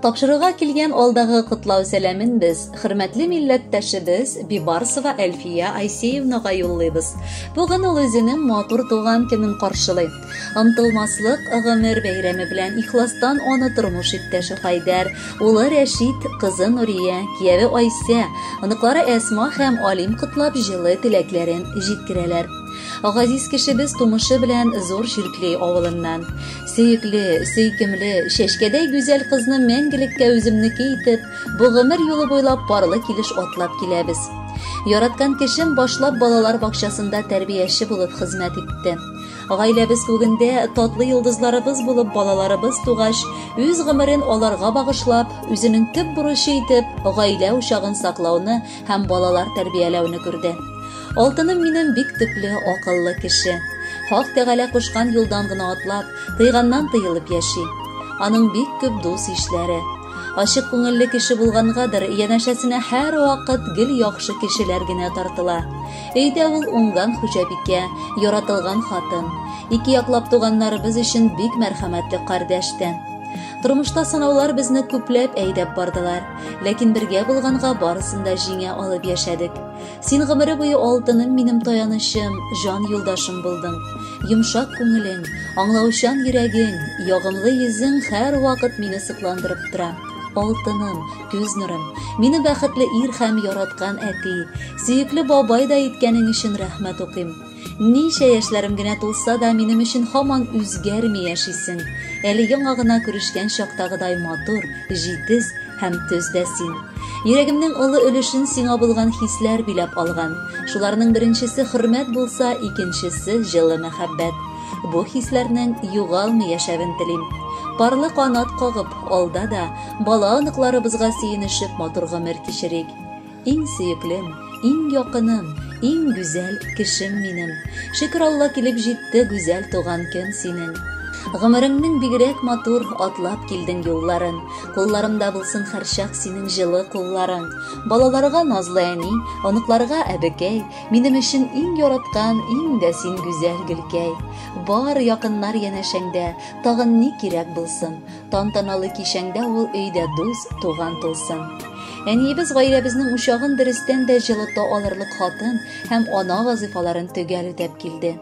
Тапшыруга килгән алдагы котлау сәламен без хөрмәтле милләттәшебез Бибарсова Әлфия Айсеевнага юллыйбыз. Бүген ул үзенең матур туган көнен каршылый. Омтылмаслык гомер бәйрәме белән ихластан аны тормыш иптәше Хайдәр, улы Рәшит, кызы Нурия, кияве Айсә, оныклары Әсма һәм Алим котлап җылы теләкләрен җиткерәләр. Газиз кешебез тумышы белән зур Ширкли авылыннан. Сөекле, сөйкемле, чәчкәдәй гүзәл кызны мәңгелеккә үземнеке итеп, бу гомер юлы буйлап парлы килеш атлап киләбез. Яраткан кешем башлап балалар бакчасында тәрбияче булып хезмәт итте. Гаиләбез күгендә татлы йолдызларыбыз булып балаларыбыз тугач, үз гомерен аларга багышлап, үзенең төп бурычы итеп гаилә учагын саклауны һәм балалар тәрбияләүне күрде. Алтыным минем бик төпле, акыллы кеше. Хак Тәгалә кушкан юлдан гына атлап, тыйганнан тыелып яши. Аның бик күп дус-ишләре. Ачык күңелле кеше булгангадыр, янәшәсенә һәрвакыт гел яхшы кешеләр генә тартыла. Өйдә ул уңган хуҗабикә, яратылган хатын. Ике яклап туганнарыбыз өчен бик мәрхәмәтле кардәш тә. Тормышта сынаулар безне күпләп әйдәп бардылар, ләкин бергә булганга барысын да җиңә алып яшәдек. Син гомере буе алтыным минем таянычым, җан юлдашым булдың. Йомшак күңелең, аңлаучан йөрәгең, ягымлы йөзең һәрвакыт мине сокландырып тора. Алтыным, Күз нурым, мине бәхетле ир һәм яраткан әти, сөекле бабай да иткәнең өчен рәхмәт укыйм. Ничә яшьләрем генә тулса да, минем өчен һаман үзгәрми яшисең. Әле яңа гына күрешкән чактагыдай матур, җитез һәм төз дә син. Йөрәгемнең олы өлешен сиңа булган хисләр биләп алган. Шуларның беренчесе хөрмәт булса, икенчесе җылы мәхәббәт. Бу хисләрнең югалмый яшәвен телим. Парлы канат кагып, алда да, Бала-оныкларыбызга сөенешеп матур гомер кичерик. Иң сөеклем, иң якыным, иң гүзәл кешем минем. Шөкер Алла килеп җитте гүзәл туган көн синең. Гомереңнең бигрәк матур атлап килдең юлларын. Кулларымда булсын һәрчак синең җылы кулларың. Балаларга назлы әни, оныкларга әбекәй, минем өчен иң яраткан, иң дә син гүзәл гөлкәй. Бар якыннар янәшәңдә, тагын ни кирәк булсын? Тантаналы кичәңдә ул өйдә дус, туган тулсын. Әниебез гаиләбезнең учагын дөрестән дә җылыта алырлык хатын һәм ана вазыйфаларын төгәл үтәп килде.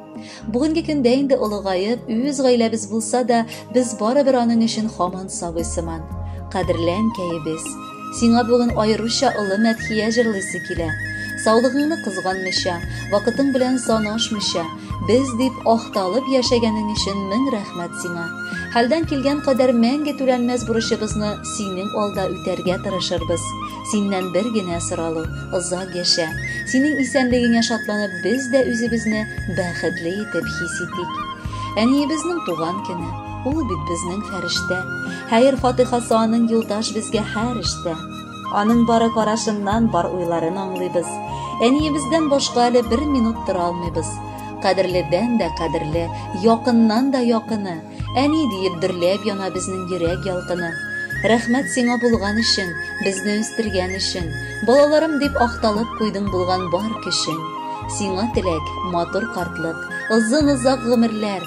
Бүгенге көндә инде олыгаеп, үз гаиләбез булса да, без барыбер аның өчен хаман сабый сыман. Кадерле әнкәебез, Сиңа бүген аеруча олы мәдхия җырлыйсы килә. Саулыгыңны кызганмыйча, вакытың белән санашмыйча, без дип ахталып яшәгәнең өчен мең рәхмәт сиңа. Хәлдән килгән кадәр мәңге түләнмәс бурычыбызны синең алда үтәргә тырышырбыз. Синнән бер генә соралу, озак яшә. Синең исәнлегеңә шатланып без дә үзебезне бәхетле итеп хис итик. Әниебезнең туган көне. Ул бит безнең фәрештә. Хәер фатыйхасы аның юлдаш безгә һәр эштә. Аның бары карашыннан бар уйларын аңлыйбыз. Әниебездән башка әле бер минут тора алмыйбыз. Кадерледән дә кадерле, якыннан да якыны. Әни диеп дөрләп яна безнең йөрәк ялкыны. Рәхмәт сиңа булган өчен, безне үстергән өчен. Балаларым дип акталып куйдың булган бар көчен. Сиңа теләк, матур картлык, озын-озак гомерләр,